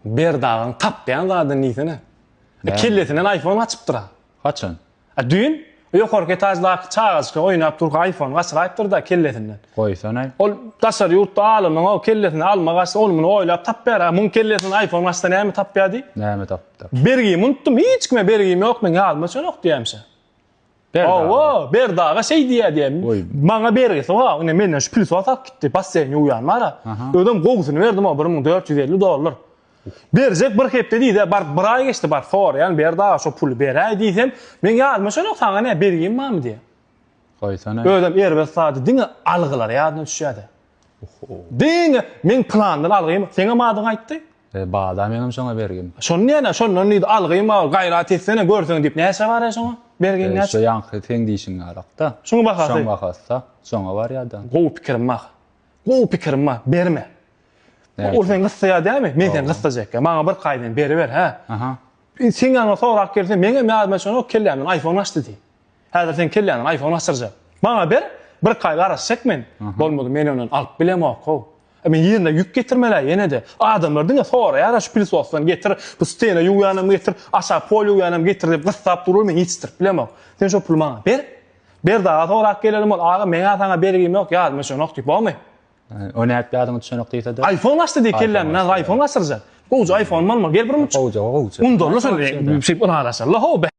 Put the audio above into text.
Berdagyň tapýan zadyny diýsene. Näme? Kellesinden aýfon gaçypdyr-a. Haçan? A düýn ýokarky etaždaky çagajyk oýnap durka aýfon gaçyraýypdyr-da kellesinden. Goýsana-aý. Ol daşary ýurtda alymyň-ow kellesine alma gaçsa ony muny oýlap tapýar-a. Muň kellesinden aýfon gaçsa näme tapýar diý. Näme tapypdyr? Bergimi unutdym. Hiç kime bergim ýok meň ýadyma çenok diýäýmişä. Hawa, Berdi aga şeý diýýär diýen. Maňa bergi sowa, ine menden şu pil sorap gitdi. Basseýn ýuwýan bar-a. Özem gowusyny berdim, o bir müň dört ýüz elli dollar. Berjek bir hepde diýdi-ä, bar bir aý geçdi, bar soraýan, Berdi aga şo puly beräý diýsem, meň ýadyma şonok saňa nä bergim barmy diýýä. Goýsana. Özem erbet zady diňe algylary ýadyna düşýä-de. Diňe meň plandan algym, seňem adyň aýtdy, E, bada meňem şoňa bergim. Şony näne, şondan diýdi, algym bar, gaýrat etsene, görseň diýip, näçe barýa şoňa? Bergin e, näçe? Şo ýaňky seň diýşiň ýarakda. Şoň bahasy. Şoň bahasda, şoňa barýada. Gowy pikirim bar. Gowy pikirim bar, berme. Ol seni gyssaýar dämi? Men seni gyssajak. Maňa bir kaýdan beriber, hä? Aha. Sen ýaňa sorap gelse, meňem ýadyma şonok kellämden iPhone açdy diý. Häzir seň kelläňe aýfon asdyrjak. Maňa ber, birki aý garaşjak men. Bolmady, men ondan alyp bilemok-ow. A men ýerine ýük getirmelä ýene-de. Adamlar diňe soraýar-a, şu pilsosdan getir, bu stena ýuwýanam getir, aşak pol ýuwýanam getir diýip gyssap durlar, men ýetişdirip bilemok. Sen şo puly maňa ber. Berdi aga sorap gelelim ol, Aga, meň-ä saňa bergim ýok, ýadyma düşenok diý, bormy? O nädip ýadyňa düşenok diýse-de? Aýfon gaçdy diý kellämden, häzir aýfon gaçdyrjak. Gowja aýfonym bolmaly, gel birmujik. Gowja, gowja. Undanla şol, şeýdip ylalaşaly-la-how.